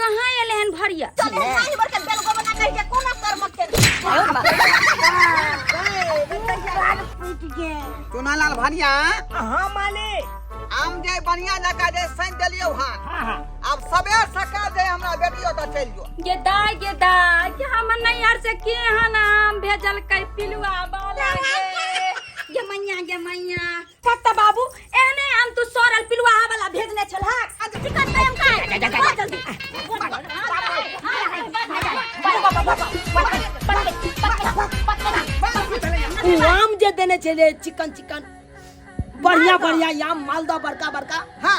कहाँ एले हन भरिया चल तू खाई मर के बेल गोबना कह के कोना कर मत के तोना लाल भनिया हाँ माले आम जे बढ़िया जका जे सैन देलियो हां अब सबे सका जे हमरा बेटियो त चल जो ये दाय ये दाय कि हम नैहर से के हन आम भेजल कै पिलुआ बाला के ये मैया ये मैया पत्ता बाबू एहने हम तू सोरल पिलुआ वाला भेजने छल हां आज चिकन पे हम खाए जा, जा, जा, जा। बहुत जल्दी उ आम जे देने छले चिकन चिकन बढ़िया बढ़िया याम मालदा बड़का बड़का हाँ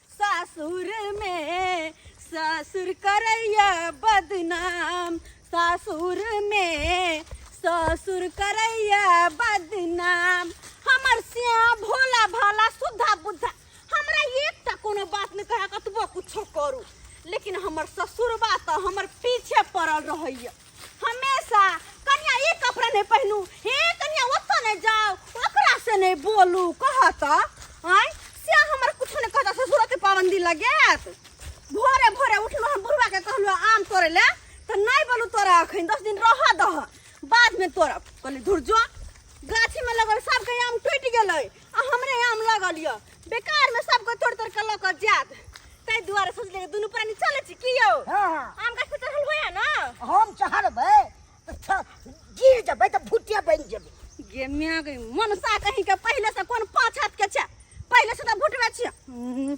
सासुर में सासुर करैया बदनाम सासुर में सासुर करैया बदनाम हमर सिया भोला भाला सुधा बुद्धा हमरा एक टा कोनो बात नहीं कहे कतबो कुछो करू लेकिन हमर ससुरबा तो हमर पीछे पड़ल रहैया हमेशा कन्या ई कपड़ा नहीं पहनू हे कन्या ओतो नहीं जाओ ओकरा से नहीं बोलू कहत आय से हमर कुछ नहीं कहता ससुर के पाबंदी लगेत भोरे भोरे उठलो हम बुढ़वा के कहलो आम तोड़े ले तो नहीं बोलू तोरा अखन दस दिन रह दह बाद में तोरा कहली धुर जो गाछी में लगल सबके आम टूट गेलै आ हमरे आम लगल यऽ बेकार में सबके तोड़ तोड़ के लऽ कऽ जायत ताहि दुआरे सोचले कि दुनू प्राणी चलै छी की यौ हाँ हाँ आम गाछ पर चढ़ल होइए ने हम चढ़बै तऽ छ- गिर जेबै तऽ भुटिया बनि जेबै गे माय गे मनसा कहीं के पहिले से कोन पाँच हाथ के छै पहिले से तऽ भुटबे छियै हम्म,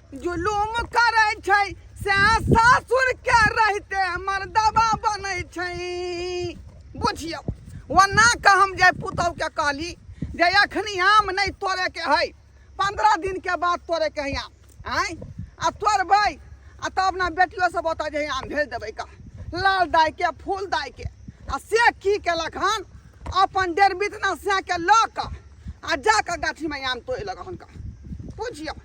जुलूम करै छै से सासुर के रहते मर्दबा बनै छै बुझियौ ओना के हम जे पुतहु के कहली जे एखनी आम नहि तोड़े के है पंद्रह दिन के बाद तोड़े के है आम आय आ तोड़बै आ तब ने बेटियो सब ओतऽ जे है आम भेज देबै का लाल दाय के फूल दाय के आ से की केलक हन अपन डेढ़ बितना से के लऽ कऽ आ जा कऽ गाछीमे आम तोड़ि लग हन का बुझियौ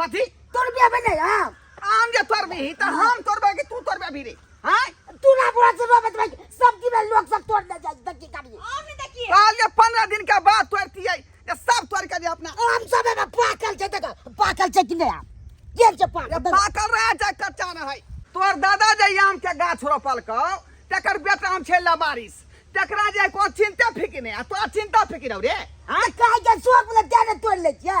कथी तोर बिया बने हम आम जे तोर भी त हम तोर बे कि तू तोर बे भी रे हां तू ना बोला से बाबा भाई सब की में लोग सब तोड़ दे जाए तक की काटी आम नहीं देखिए काल ये 15 दिन के बाद तोड़ती है ये सब तोड़ के दे अपना आम सब में पाकल छै तक पाकल छै कि नहीं आप ये जे पाकल पाकल रहे छै कच्चा न है तोर दादा जे आम के गाछ रोपल क तकर बेटा हम छै लबारिस तकरा जे को चिंता फिकिने आ तो चिंता फिकिरौ रे हां काहे के शौक में तेरे तोड़ ले छै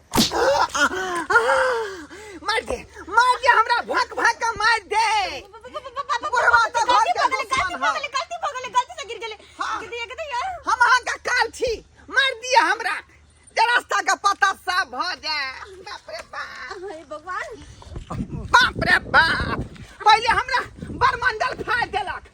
मार दे मार दे हमरा भक भक के मार दे बुढ़वा तो घर के दुश्मन है। गलती भऽ गेलै गलती से गिर गेलै हाँ। गिर दिया गिर यार हम अहाँ के काल छी मार दिए हमरा जे रास्ता के पता साफ भ जाए बाप रे बाप हे भगवान बाप रे बाप पहिले हमरा बरमंडल फाड़ देलक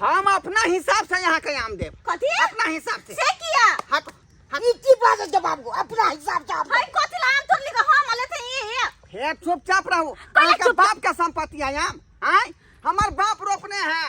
हम अपना हिसाब से यहाँ के आम देब कथी अपना हिसाब से से किया हट हट ई की बात है जवाब को अपना हिसाब से आप हम कथी ला आम तोड़ लेके हम लेते ई हे हे चुपचाप रहो कहले अहाँके चुप- बाप के संपत्ति है आम आय हमर बाप रोपने है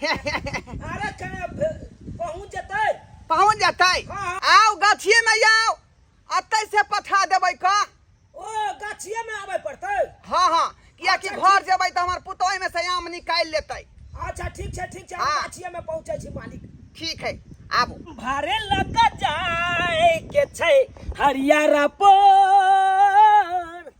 अरे कने पहुँच जेतै पहुँच जेतै हाँ। आओ गाछिए में आओ अतै से पठा देबै का ओ गाछिए में आबे पड़तै हाँ हाँ किया कि अच्छा, घर जेबै तो हमार पुतोह में से आम निकाल लेतै अच्छा ठीक छै ठीक छै हाँ। गाछिए में पहुँचै छी मालिक ठीक है आबो भरे लग जाए के छै हरियारा पर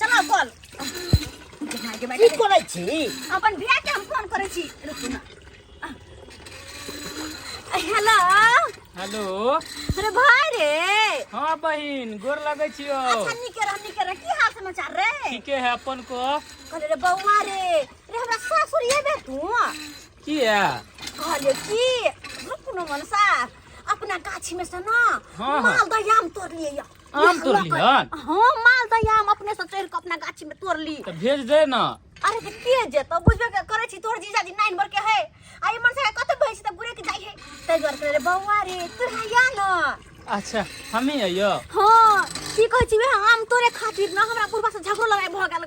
चला कॉल की करै छी अपन बियाह के हम फोन करै छी रुकू ना हेलो हेलो अरे भाई रे हाँ बहिन गोर लगै छियो अच्छा निके रह निके रह की हाल समाचार रे ठीके है अपन को कहले रे बौआ रे रे हमरा सासुर ये बे तू की है कहले की रुकू ना मन सा अपना गाछी में से ना हाँ, हाँ। माल दयाम तोड़ लिए आम तोड़ ली हन हाँ माल दही आम अपने से चढ़ के अपना गाछी में तोड़ ली तऽ भेज दे ना अरे तऽ के जेतौ बुझबे के करै छी तोहर जीजाजी नाइन बर के है आ ई मनसा कतऽ भै छै तऽ बुरे के जाइ है तै दुआरे कहले रे बौआ रे तू हैया न अच्छा हमी अइयो हाँ की कहै छी वएह आम तोरे खातिर न हमरा बुढ़बा से झगड़ो लड़ाई भऽ गेल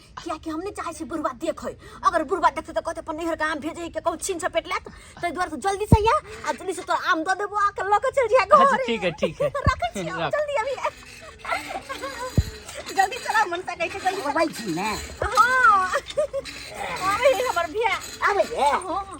कियाकि हम नहि चाहै छी बुढ़बा देखै अगर बुढ़बा देखतै तऽ कहतै अपन नैहरके आम भेजै के कहूँ छीन सपेट लेत ताहि दुआरे तू जल्दी से या आ जल्दी से तोरा आम दऽ देबो आके लऽ के चलि जाय अच्छा घर ठीक है ठीक है रखै छी हम, रख। जल्दी अभी जल्दी चला मन तक ऐसे जल्दी अबै छी ने हाँ अरे हमर भैया अबै हे हाँ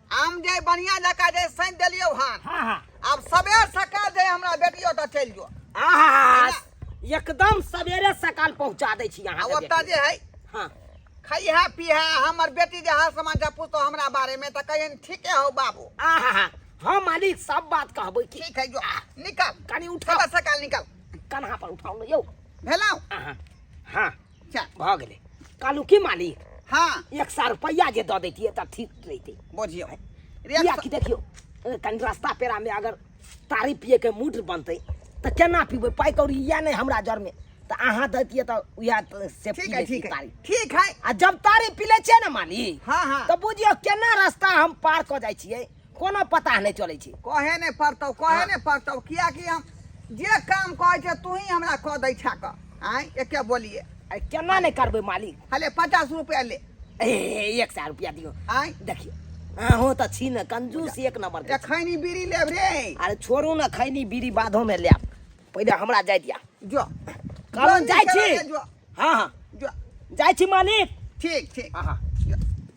आम जे बढ़िया जका जे सैन देलियो हन हाँ हाँ आब सबेर सकाल जे हमरा बेटी ओतऽ चलि जो आहा, एकदम सवेरे सकाल पहुंचा दै छी आ अहाँ ओतऽ जे है हाँ खैहा पीहा हमर बेटी जे हाल समाचार पूछतो हमरा बारे में तऽ कहियन ठीके हो बाबू आहा हम अली सब बात कहबै की ठीक है जो निकल कनी उठा सबेर सकाल निकल कन्हा पर उठाउ ने यौ भेलौ आहा हाँ चल भऽ गेलै कहलहुँ की मालिक हाँ एक सए रुपैआ जे दऽ दैतियै तऽ ठीक रहितै बुझियौ रे किया कि देखियौ अ, कनि रास्ता पेरामे अगर तारी पियैके मूड बनतै तऽ केना पीबै पाइ कौड़ी इएह नहि हमरा जरमे तऽ अहाँ दैतियै तऽ उएह त- से पी ठीक है लैतियै ठीक है तारी ठीक है आ जब तारी पी लै छियै ने मालिक हाँ हाँ तऽ बुझियौ केना रास्ता हम पार कऽ जाइ छियै कोनो पता नहि चलै छै कहे नहि पड़तौ कहे हाँ। नहि पड़तौ कियाकि हम जे काम कहै छै तू ही हमरा कह दै छा कऽ आँय एके बोलिए अरे केना नहि करबै मालिक हले पचास रुपया ले ए एक सए रुपया दियो आँय देखियो अहूँ तऽ छी ने कंजूस एक नंबर के खैनी बीड़ी लेब रे अरे छोड़ू ने खैनी बीड़ी बाधो में लेब पहिले हमरा जाय दिया जो कारण जाइ छी हाँ हाँ जो जाइ छी मालिक ठीक ठीक हाँ हाँ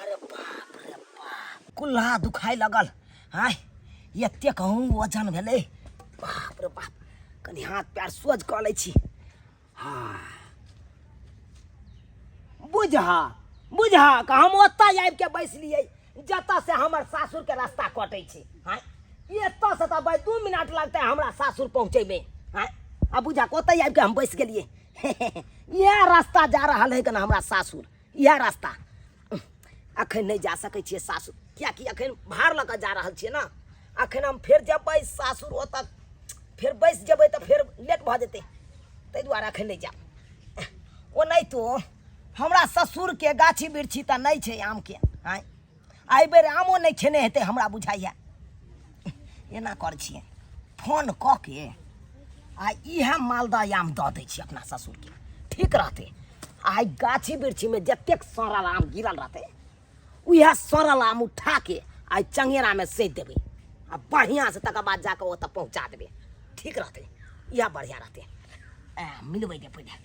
अरे बाप रे बाप कुल्हा दुखाइ लगल आय एते कहूँ वजन भेलै बाप रे बाप कनि हाथ पैर सोझ कऽ लै छी हाँ बुझहा बुझहा कि हम ओतय आबि कऽ बैसलियै जतऽ से हमर सासुर के रास्ता कटै छै आय एतऽ से तऽ भाय दू मिनट लगतै हमरा सासुर पहुँचैमे आय आ बुझा ओतय आबि कऽ हम बैस गेलियै इएह रास्ता जा रहल है कना हमरा सासुर इएह रास्ता अखन नहि जा सकै छियै सासुर किएकि अखन भार लऽ कऽ जा रहल छियै ने अखन हम फेर जेबै सासुर ओतऽ फेर बैस जेबै तऽ फेर लेट भऽ जेतै ताहि दुआरे अखन नहि जायब ओनाहितो हमरा ससुरके गाछी बिरछी तऽ नहि छै आमके आँय एहि बेर आमो नहि खेने हेतै हमरा बुझाइए एना कर छियै फोन कऽ के आ इएह मालदह आम दऽ दै छियै अपना ससुरके ठीक रहतै आइ गाछी वृक्षीमे जतेक सड़ल आम गिरल रहतै उएह सड़ल आम उठा के आइ चंगेरामे सेच देबै आ बढ़िआँसँ तकर बाद जाकऽ ओतऽ पहुँचा देबै ठीक रहतै इएह बढ़िआँ रहतै मिलबै दे पहिले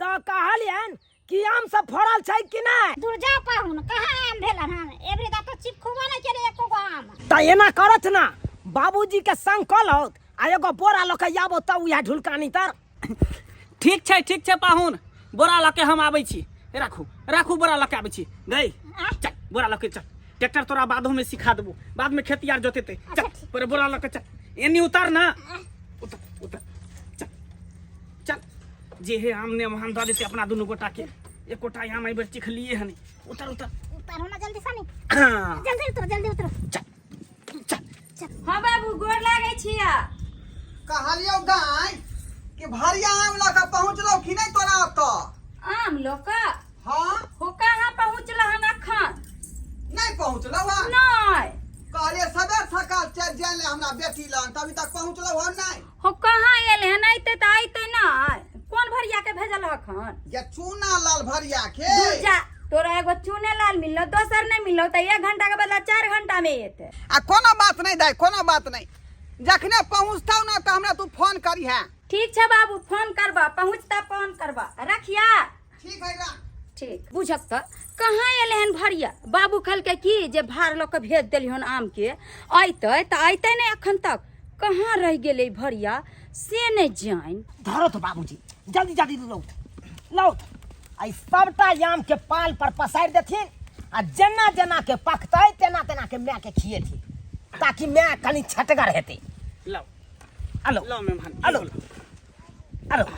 तऽ कहलियन कि आम सब फड़ल छै कि नहि दुर्जा पाहुन कहाँ आम भेलन हन एबरी दा तो चिपखुबो नहीं केले एको गो आम तऽ एना करत ना बाबूजी के संग कहलौत आ एगो बोरा लऽ के आबो तऽ उएह ढुलकानी तर ठीक छै ठीक छै पाहुन बोरा लऽ के हम आबै छी राखू राखू बोरा लऽ के आबै छी गई चल बोरा लऽ के चल ट्रैक्टर तोरा बादो में सिखा देबो बाद में खेती आर जोतेते चल पर बोरा लऽ के चल एनी उतार ना उतार उतार चल जे हे आम ने वहां दऽ देते अपना दुनू गोटा के एकोटा आम एहि बेर चिखलिए हन उतर उतर उतर होना जल्दी सनी हाँ। जल्दी उतर जल्दी उतर चल चल हाँ बाबू गोर लागे छिया कहलियो गाय कि भरिया आम लऽ कऽ पहुँचलौ कि नहि तोरा ओतऽ आम लोका हाँ हो कहाँ पहुँचल हन अखन नहि पहुँचलौ हँ नहीं कहलिए सबेर सकाल चलि जाए ले हमरा बेटी लग तभी तक पहुँचलौ हँ नहि हो कहाँ आयल है नहीं ते आई ते ना कौन भरिया के भेजल हखन या चूना लाल भरिया के दूर जा तोरा एगो चूने लाल मिललो दोसर नहीं मिललो तो एक घंटा के बदला चार घंटा में एते आ कोनो बात नहीं दाई कोनो बात नहीं जखने पहुँचता ना तो हमरा तू फोन करी है ठीक है बाबू फोन करबा पहुँचता फोन करबा रखिया ठीक है राख ठीक बुझक तऽ कहाँ एलै हन भरिया बाबू कहलकै कि जे भार लऽ कऽ भेज देली हन आमके अयतै तऽ अयतै नहि एखन तक कहाँ रहि गेलै भरिया से नहि जानि धरो तो बाबूजी जल्दी जल्दी लौट लौट आई सबटा आम के पाल पर पसारि देथिन आ जेना जेना के पकतै तेना तेना के माय के खिएथिन ताकि माय कनी छटगर हेतै लाओ आ लौट लो मेहमान आ लौट आ लौट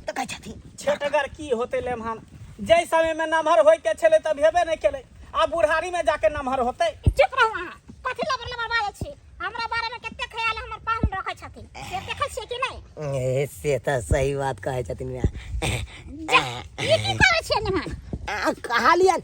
तऽ कहै छथिन छेटगर की होते लेमहन जाहि समय में नमहर होय के छले तब हेबे नहीं केले आ बुढ़ारी में जाके नमहर होते चुप रहू अहाँ कथी लबर लबर बाजै छी हमरा बारे में कते ख्याल हमर पाहुन रखै छथिन से देखै छियै कि नहि ए, से तऽ सही बात कहै छथिन माय जा ई की करै छियै निमन आ, कहलियन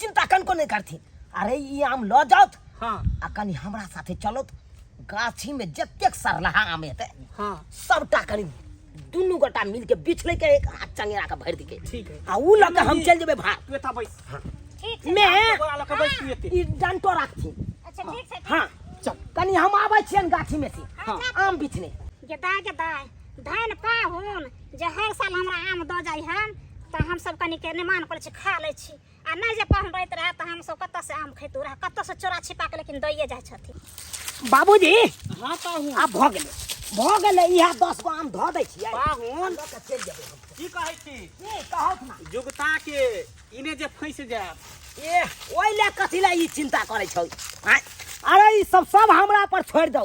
चिंता कनको नहीं करथिन अरे ई आम लऽ जाउत हाँ आ कनि हमरा साथे चलत गाछी में जतेक सरलहा आम हेतै हाँ सबटा कनि दुनू गोटा मिल के बीछ ले के एक हाथ चंगेरा के भरि दिके ठीक है आ ऊ लऽ के हम चलि जेबै भार तू एता बैस ठीक छै में गोरा लऽ के बैस तू एते ई डंटो राखथिन अच्छा ठीक छै हाँ चल कनि हम आबै छियनि गाछी में से हाँ। आम बिछने गेदाय गेदाय धन पाहुन जे हर साल हमरा आम दऽ जाइ हन तऽ हमसभ कनिके निमान करै छी खा लै छी आ नहि जे पाहुन रहैत रहए तऽ हमसभ कतऽसँ आम खैतू रहए कतऽसँ चोरा छिपा कऽ लेकिन दैए जाइ छथिन बाबूजी हाँ पाहुन आब भऽ गेलै भऽ गेलै इएह दस गो आम धऽ दै छियै पाहुन लऽ कऽ चलि जेबै हम। की कहै छी की कहत ना जुगता के इने जे फैस जायब ए ओहि लए कथी लए ई चिन्ता करै छौ आँय? अरे ई सब सब हमरा पर छोड़ि दौ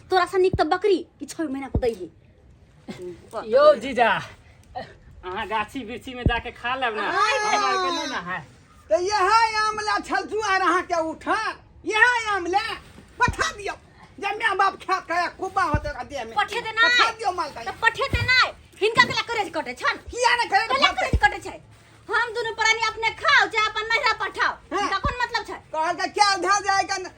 तोरा से निक त बकरी कि छह महीना को दै है यो जीजा अहाँ गाछी बिरछी में जाके खा लेब ना हमरा आर के नहीं ना है तो यह आमला छल जुआर अहाँ के उठा यह आमला पठा दियो जब माँ बाप खा खाया कुबा होते रह दे में पठे दे ना। पठा दियो माल त का पठे ते नै हिनका केला करेज कटे छन किया ने करे केला करेज कटे छै हम दुनु प्राणी अपने खाओ जे अपन नहिरा पठाओ हाँ। हिनका कोन मतलब छै कहल का क्या धा जाएगा न-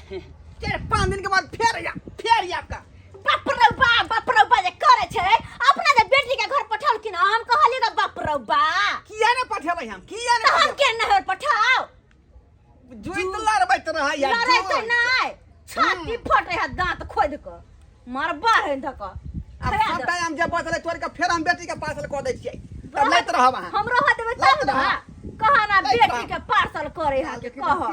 चारि पाँच दिन के बाद फेर आयब फेर आयब का बाप रौ बा बाप रौ बा जे करे छै अपना जे बेटी के घर पठाओल कि ना हम कहलिए ना बाप रौ बा किया ने पठेबै हम किया ने तो हम के ना होर पठाओ जुइत लड़बैत रहै या लड़ै तो जुइत। नै छाती फटे है दांत खोद के मरबा है धक आब सब टाइम जे बचले तोड़ के फेर हम बेटी के पार्सल कऽ दै छियै तब लैत रहब अहाँ हम रह देबै लैत तब ना रहब। कहा ना लैत बेटी रहब। के पार्सल करे है के कह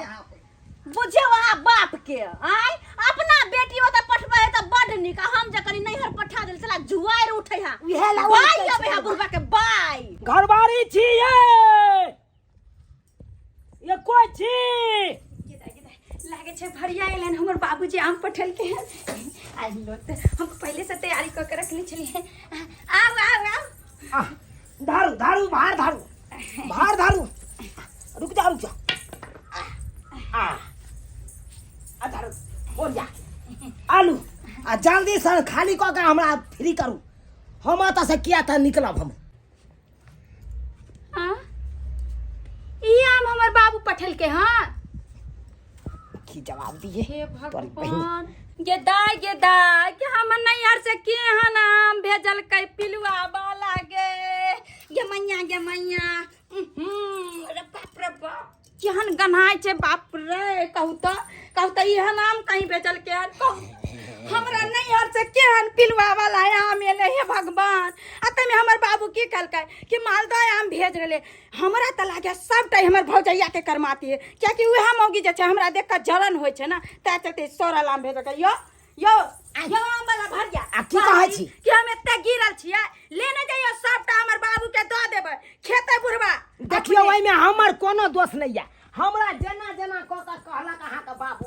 बुझियौ अहाँ बाप के आय अपना बेटी ओतऽ पठबै है तऽ बड नीक आ हम जे कनी नैहर पठा देल साला जुआर उठै है उहे ला ओ बाई अबै है बुढ़बा के बाई घरवारी छी ये ये कोई छी लागे छै भरिया एलन हमर बाबूजी आम पठलके हैं आज लो तऽ हम पहिले से तैयारी कऽ के रखले छलिए आउ आउ आउ आ, धारू धारू बाहर धारू बाहर धारू रुक जा रुक जा आ आ धारू बोल जा आलू आ जल्दी से खाली कऽ के हमरा फ्री करू हम एतऽ से किया तऽ निकलब हम हाँ? ई आम हमर बाबू पठल के हाँ की जवाब दिए हे तोरी बहिन भगवान गे दाय गे दाय के हम नैहर से के हन हम भेजल कै पिलुआ बाला गे गे मैया गे मैया उहुं, रे बाप रे बाप केहन गन्हाय छै बाप रे कहू तऽ कहू तऽ इहे नाम कहीं भेजल के हन कहू हमरा नैहर से केहन पिलुआ वाला आम एलै हे भगवान आ तैमे हमर बाबू की कहलकै कि मालदह आम भेज रहलै हमरा तऽ लागैए सभटा हमर भौजैयाके करमाती है कियाकि उएह मौगी जे छै हमरा देख कऽ जलन होइ छै ने तैँ चलते सर अलाम भेज कऽ यौ यौ यौ आमवला भरिया आ की कहै छी? कि हम एते गिरल छियै लेने जइयो सभटा हमर बाबूके दऽ देबै खेतै बुढ़बा देखियौ अपने। ओहिमे हमर कोनो दोष नहि यऽ हमरा जेना जेना कऽ कऽ कहलक अहाँके बाबू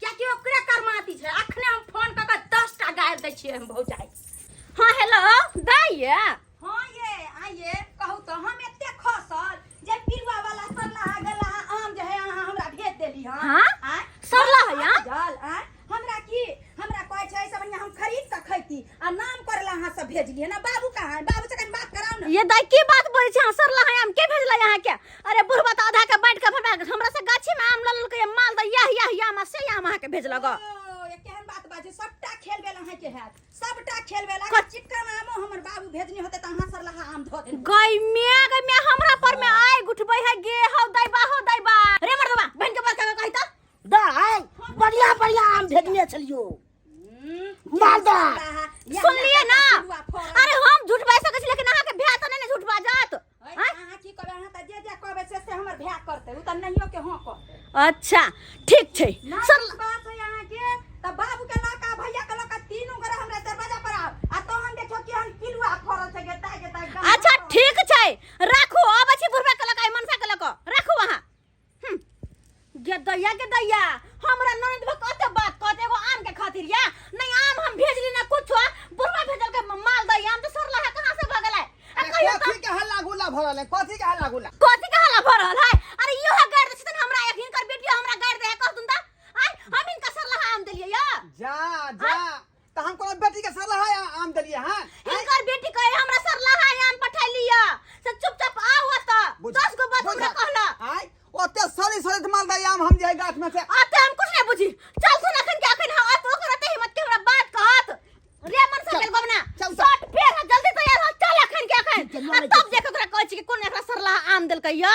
कियाकि ओकरे कर्माती छै अखने हम फोन कऽ कऽ दस टा गारि दै छियै हम भौजाइ हँ हेलो दैया हँ ये आइए कहू तऽ हम एते खसल जे पिरुआ वाला सरलाहा गलाहा आम जे है अहाँ हमरा भेज देली हँ हाँ? आँय? सरलाहा हमरा आम? जल, आँय? हमरा की हमरा कहै छै सब बढ़ियाँ हम खरीद कऽ खैती आ नाम करला अहाँ सब भेजलियै ना बाबू कहाँ है? बाबू से कनि बात कराउ ना ये दाई की बात बोलै छै अहाँ सरला है हम के भेजला यहाँ के अरे बुढ़वा तऽ आधा के बाँटि के हमरा हमरा से गाछी में आम लल के माल द यह यह यह आम से आम अहाँ के भेजलक ओ, ये केहन बात बाजे सबटा खेल बेला है के हैत सबटा खेल बेला कत- चिकन आमो हमर बाबू भेजनी होते त अहाँ सरलाहा आम धो देन गई में गई में हमरा पर में आय गुठबै है गे हौ दैबा हौ दैबा रे मर्दवा बहन के बात का कहि त दाय बढ़िया बढ़िया आम भेजने छलियो मालदा सुनलिए ना अरे हम झूठ बाजि सकै छी लेकिन अहाँ के भ्या त नै ने झूठ बाजत अच्छा ठीक छै सर तब बाबू के लड़का भैया के लड़का तीनों गोरे हमरा दरवाजा पर आब आ तो हम देखो कि हम पिलुआ फरल छै गेता गेता अच्छा ठीक छै राखू अब अछि बुढ़वा के लड़का मनसा के लड़का राखू वहां गे दैया गे दैया हमरा ननद बा कते बात कहत एगो आम के खातिर या नहीं आम हम भेजली ना कुछो बुढ़वा भेजल के माल दैया हम तो सरला है कहां से भगल है आ अरे कहियो कथी के हल्ला गुल्ला भरल है कथी के हल्ला गुल्ला कथी के हला भरल है अरे इहो है गाड़ दे छतन हमरा एक हिनकर बेटियो हमरा गाड़ दे है कह तुम ता आई हम इनका सरला है आम देलिए या जा जा त हम कोनो बेटी के सरला है आम देलिए हां हिनकर बेटी कहे हमरा सरला है आम पठा लिया से चुपचाप आओ त दस गो बात हमरा कहला आय ओते सली सली त माल आम हम जे गाछ में से आते हम कुछ नहीं बुझी चल सुन अखन के अखन हां तो ओकर ते हिम्मत के हमरा बात कहत रे मन से चल गबना शॉट फेर जल्दी तैयार हो चल अखन के अखन तब देख ओकरा कहै छी कि कोन एकरा सरला आम देलकै या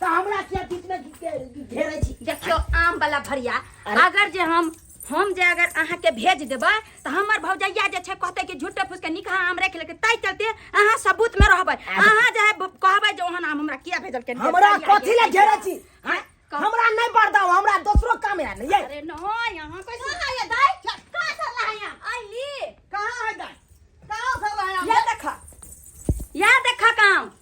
तो हमरा किया बीच में घे- घेरे छी देखियो आम वाला भरिया अरे। अगर जे हम हम जे अगर अहाँ के भेज देबै तऽ हमर भौजैया जे छै कहतै कि झूठे फूस के निकहा आम राखि लेके ताहि चलते अहाँ सबूत में रहबै अहाँ जे है ब- कहबै जे ओहन आम हमरा किया भेजल के हमरा कथी ले घेरे छी हैं? हमरा नहीं बरदाओ हमरा दोसरो काम है नहीं है अरे नहि अहाँ कैसे कहाँ है दाई कहाँ से लाए हैं आइली कहाँ है दाई कहाँ से लाए हैं? या देखा या देखा काम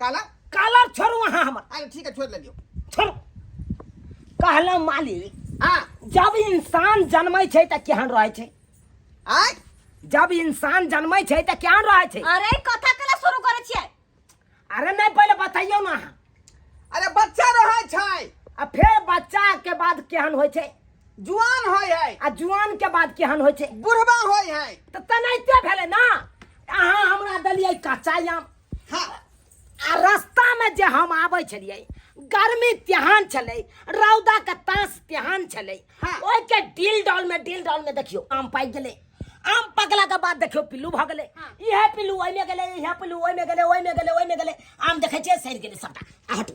काला काला छोड़ू अहाँ हमर अरे ठीक है छोड़ ले लियो छोड़ू कहला मालिक हाँ जब इंसान जन्मै छै तऽ केहन रहै छै आय जब इंसान जन्मै छै तऽ केहन रहै छै अरे ई कथा केना शुरू करे छियै अरे नहि पहिले बतैयौ ने अहाँ अरे बच्चा रहे छै आ फेर बच्चा के बाद केहन होइ छै जुआन होय है आ जुआन के बाद केहन होइ छै बुढ़वा होय है तऽ तेनाहिते भेलै ने अहाँ हमरा देलियै कच्चा आम हाँ आ रास्तामे जे हम आबै छलियै गर्मी तेहन छलै रौदाके तास तेहन छलै हाँ। ओहिके डील डॉलमे डील डॉलमे देखियौ आम पाकि गेलै आम पकलाके बाद देखियौ पिल्लू भऽ गेलै हाँ। इएह पिल्लू ओहिमे गेलै इएह पिल्लू ओहिमे गेलै ओहिमे गेलै ओहिमे गेलै आम देखै छियै सड़ि गेलै सभटा आ हटू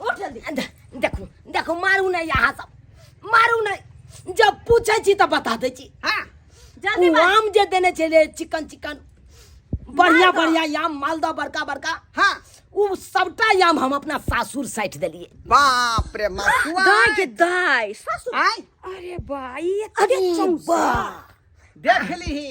उठ जल्दी दे- देखू देखू मारू नहि अहाँ सब मारू नहि जब पूछै छी तऽ बता दै छी हाँ जल्दी ओ मार आम जे देने छलियै चिकन चिकन बढ़िया मालदह। बढ़िया आम मालदह बड़का बड़का हाँ ओ सबटा आम हम अपना सासुर साइट देलियै बाप रे मसुआ दाय के दाय सासू आय अरे बा ई अरे एते चौंसा बा देख लीही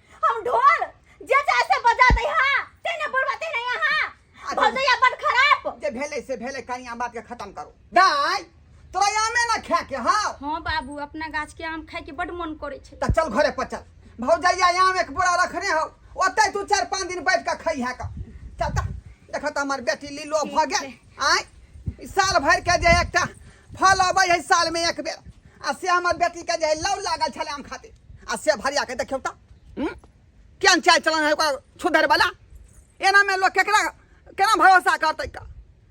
हम ढोल जे चाहे से बजा दे हां तेने बुढ़वा तेने यहां भजैया बड़ खराब जे भेले से भेले कनिया बात के खत्म करो दाई तोरा आमे ना खा के हां हां बाबू अपना गाछ के आम खाए के बड़ मन करे छे त चल घरे पर चल भौजैया आम एक बोरा रखने हो ओते तू चार पांच दिन बैठ के खइहा का चल त देखत हमर बेटी लीलो भ गेल आय ई साल भर के जे एकटा फल अबै है साल में एक बेर आ से हमर बेटी के जे लौ लागल छले आम खातिर आ से भरिया के देखियौ तऽ हूँ? केहन चाल चलन है ओकर छुधर वाला एना में लोग केकरा केना भरोसा करतै का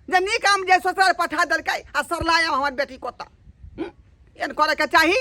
जे नीक आम जे ससुराल पठा देलकै आ सरलाय हमर बेटी कोता एन करे के चाही